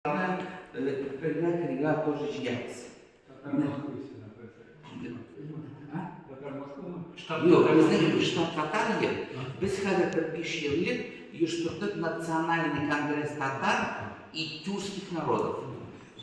Бергә кергә тоже җыябыз. Юк, безнең штаб татар ел. Без хәзер бер биш ел элек оештырдык национальный конгресс татар и тюркских народов.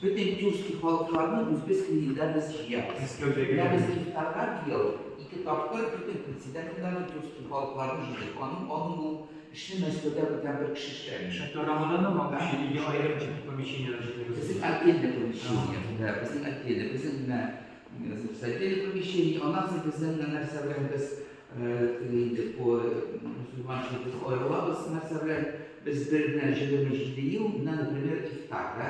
Бөтен тюркский халыкларны үзбез илдә без җыябыз. Менә без ифтарга быел ике тапкыр бөтен председательләрне тюркский халыкларны җыйдык. Аның аның ул Эшне Мәскәүдә бүтән бер кеше эшләгән. Ә программаларны матучы, ике аерым тип помещениеләр җирләгән. Безнең отдельный помещение, да, безнең отдельный, безнең менә, значит, отдельный помещение, аннан соң безнең менә нәрсә белән без, теге инде по мусульманча без аерылабыз нәрсә белән, без бер генә җиде ел, менә, например, ифтар, да.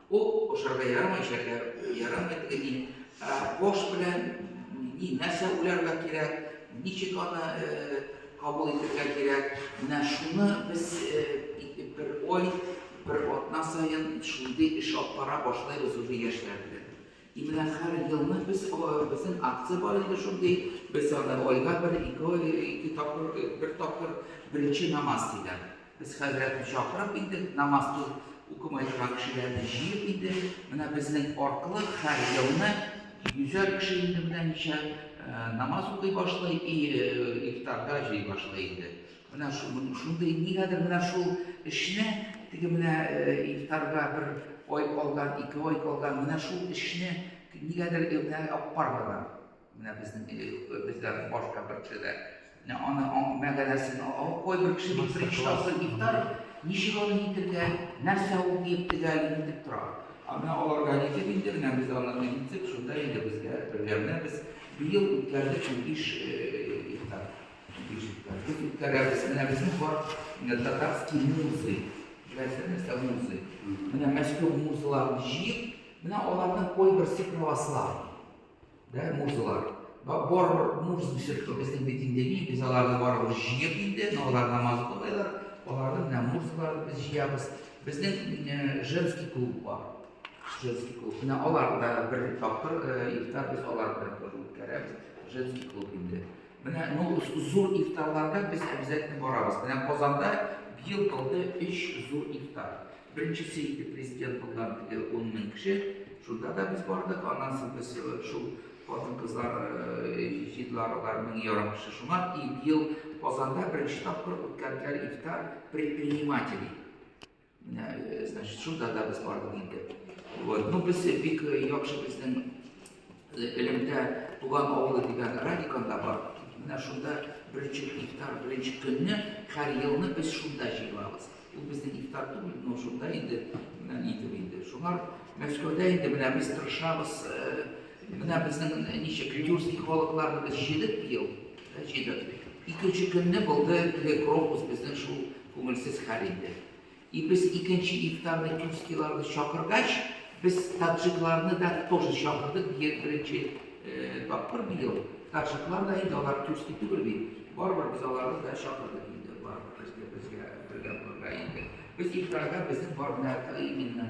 Ул ашарга ярамый шәкәр, ярамый теге ни. Ә кош белән ни нәрсә уйларга кирәк, ничек аны э, кабул итәргә кирәк. Менә шуны без э, бер ой, бер атна саен шундый эш алып бара башлыйбыз уже яшьләр белән. И менә хәр елны без безнең акция бар инде шундый, без аны айга бер, ике ай, ике тапкыр, бер тапкыр беренче намаз диләр. Без хәзрәтне чакырып инде, намаз укымай торган кешеләрне җыеп инде, менә безнең аркылы хәр елны йөзәр кеше инде менә ничә намаз укый башлый и ифтарда җый башлый инде. Менә шундый, нигәдер менә шул эшне, теге менә ифтарга бер ай калган, ике ай калган, менә шул эшне нигәдер менә аппарларга, менә безнең безләрнең башка бер кешеләр, менә аны мәгәнәсен алып кой бер кеше бик иштасы ифтар, ничек аны итергә, нәрсә ул дип тегәл итеп тора. Ә менә аларга ничек инде менә без аны итсек, шунда инде безгә бергә менә без быел үткәрдек унбиш ифтар. Тут үткәрәбез. Менә безнең бар татарский музы. Беләсезме, нәрсә музы? Менә Мәскәү музыларын җыеп, менә аларның кайберсе православ. Да, музылар. Бар муз ишетте безнең бит инде ни, без аларны барыбыз җыеп инде, алар намаз укыйлар, аларның менә музыларын без җыябыз. Безнең женский клуб бар. Женский клуб. Менә алар да бер тапкыр ифтар без алар белән үткәрәбез. Женский клуб инде. Менә ну зур ифтарларга без обязательно барабыз. Менә Казанда быел булды өч зур ифтар. Беренчесе иде президент булган теге 10 мең кеше. Шунда да без бардык. Аннан соң без шул хатын-кызлар җидлар алар мең ярым кеше. Шуңа и быел Казанда беренче тапкыр үткәрделәр ифтар предпринимателей. Э, значит, шул да без бардык инде. Вот. Ну, без бик э, яхшы безнең э, элемдә туган авылы дигән радиканда бар. Менә шунда беренче ифтар, беренче көнне һәр елны без шунда җыелабыз. Ул безнең ифтар түгел, но шунда инде менә нидер инде. Шуңа Мәскәүдә инде менә без тырышабыз. Менә безнең ничек тюркский халыкларны без җыйдык быел. Рәшидов. Икенче көнне булды теге крокус безнең шул күңелсез хәл инде. И без икенче ифтарны тюркскийларны чакыргач, без таджикларны да тоже чакырдык, бер беренче тапкыр быел. Таджиклар да инде алар тюркский түгел бит. Барыбер без аларны да чакырдык инде, барыбер безгә бергә булырга инде. Без ифтарга безнең бар гына именно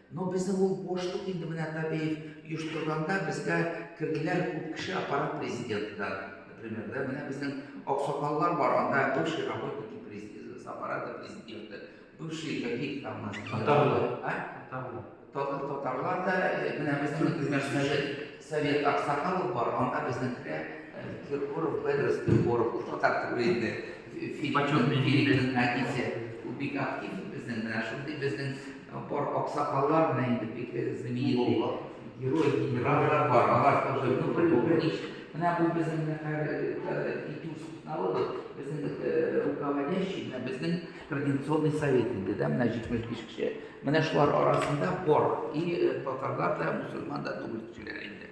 Но безнең ул бошлык инде менә Табеев оештырганда безгә керделәр күп кеше аппарат президенты да например да менә безнең аксакаллар бар анда бывший работники с аппарата президента бывший какие там у нас татарлар а татарлар татарлар да э, менә безнең например совет совет аксакалов бар анда безнекеләр э, киркоров педрос киркоров ул татар түгел инде филиппин әтисе ул бик актив безнең менә шундый безнең Тапар аксакаллар менә инде бигрәк знаменитый герой генераллар бар, алар тоже, ну бер, бер ничек, менә бу безнең нәфәр итү сукнавы бу, безнең руководящий, менә безнең координационный совет инде, да, менә 75 кеше, менә шулар арасында бар, и татарлар да, мусульман да түгел кешеләр инде.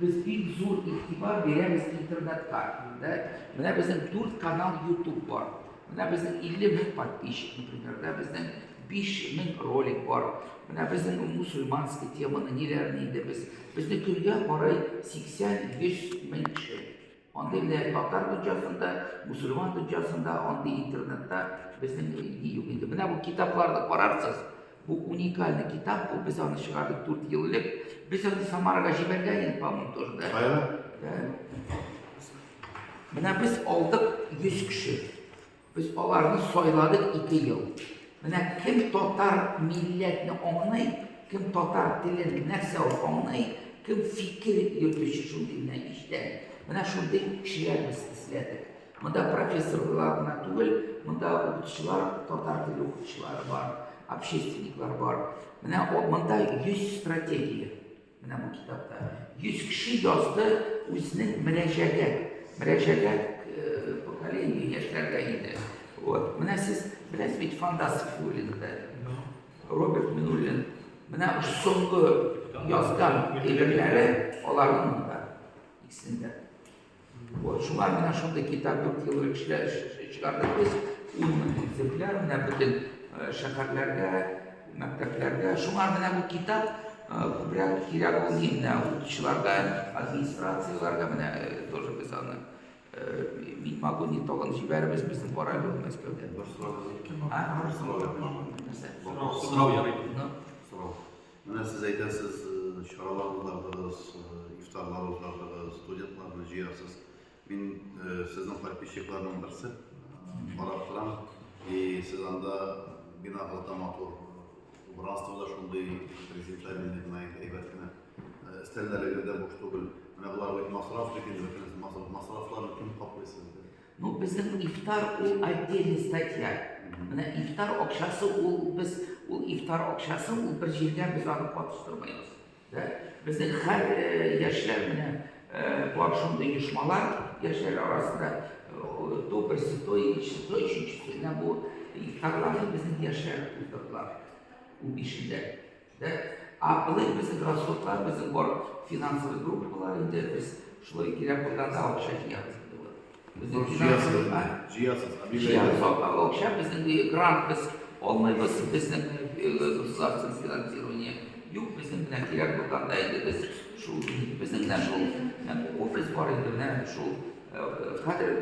Без бик зур игътибар бирәбез интернетка. Инде менә безнең 4 канал YouTube бар. Менә безнең 50 мең подписчик, например, да безнең 5 мең ролик бар. Менә безнең мусульманский теманы ниләрне инде без. Безне көнгә карый 80-100 мең кеше Андый менә татар дөньясын да, мусульман дөньясын да, андый интернетта безнең ни юк инде. Менә бу китапларны карарсыз, бу уникальный китап бу, без аны чыгардык 4 ел элек. Без аны Самарага җибәргән идек, по-моему, тоже, да? Кая? Менә без алдык 100 кеше. Без аларны сайладык ике ел. Менә кем татар милләтне аңлый, кем татар телен нәрсә ул аңлый, кем фикер йөртүче шундый генә иштән. Менә шундый кешеләр без эзләдек. Монда профессорлар гына түгел, монда укытучылар, татар теле укытучылары бар, общественниклар бар. Менә монда 100 стратегия. Менә бу китапта 100 кеше язды үзенең мөрәҗәгәт, мөрәҗәгәт э, поколение яшьләргә инде. Вот. Менә сез беләсез бит фантастик Минуллинда. Роберт Минуллин. Менә соңгы язган әйберләре аларның да икесендә. Вот, шулай менә шундый китап дүрт ел элек чыгардык без. Ун мең экземпляр менә бөтен э, шәһәрләргә, мәктәпләргә. Шуңа менә бу китап э, күбрәк кирәк ул инде укучыларга, администрацияләргә менә э, тоже без аны мин могу не толын җибәребез безнең барабыз ул Мәскәүдә. Бер сорау. Сорау ярый. Сорау. Менә сез әйтәсез, чаралар уздырдыгыз, ифтарлар уздырдыгыз, студентларны җыярсыз. Мин сезнең подписчикларның берсе, карап торам. И сез анда бина гата матур, убранство да шундый презентабельный гына, әйбәт кенә. Өстәлләрегез дә буш түгел. Менә болар бит масраф бит инде, бөтенесе масрафларны кем каплый сезгә? Ну безнең ифтар ул отдельный статья. Менә ифтар акчасы ул без ул ифтар акчасы ул бер җиргә без аны катыштырмыйбыз. Да? Безнең һәр э, яшьләр менә э, бар шундый оешмалар яшьләр арасында э, то берсе, то икенчесе, то өченчесе. Менә бу ифтарларны безнең яшьләр уздырдылар. Ул бишендә. Дә, а былай безнең расходлар, безнең бар финансовый группалар инде, без шулай кирәк булганда акча җыябыз инде вот. Безнең финансовый, а? Җыясыз, а бирә. Җыябыз акча, безнең грант без алмыйбыз, безнең государственное финансирование юк, безнең белән кирәк булганда инде без шул безнең белән шул офис бар инде менә шул хәзер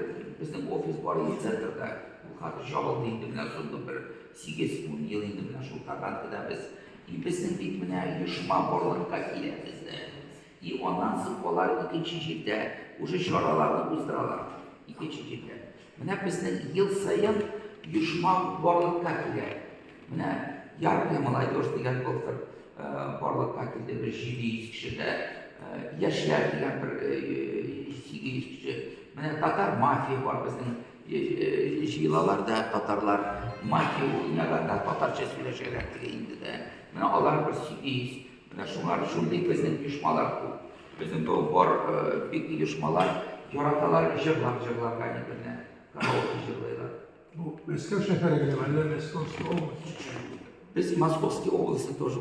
безнең офис бар инде центрда. Ул хәзер җабылды инде менә соңгы бер Сигез-ун ел инде менә шул Татаркада без иписең дип менә оешма барлыкка килә бездә. И аннан соң алар икенче җирдә уже чараларны уздыралар. Икенче җирдә. Менә безнең ел саен оешма барлыкка килә. Менә Яркая молодежь дигән былтыр барлыкка килде. Бер 700 кеше дә яшьләр дигән бер 800 кеше. Менә Татар мафия бар безнең Җыелалар да татарлар, мафия уйнала да, татарча сөйләшәләр теге инде дә. Менә алар бер сигез. Менә шулар, шундый безнең оешмалар күп. Безнең бу бар бик оешмалар яраталар җырлап җырларга әйберләр. Караоке җырлыйлар. Бу Мәскәү шәһәре генәме, әллә Мәскәүская область? Без Московский областе тоже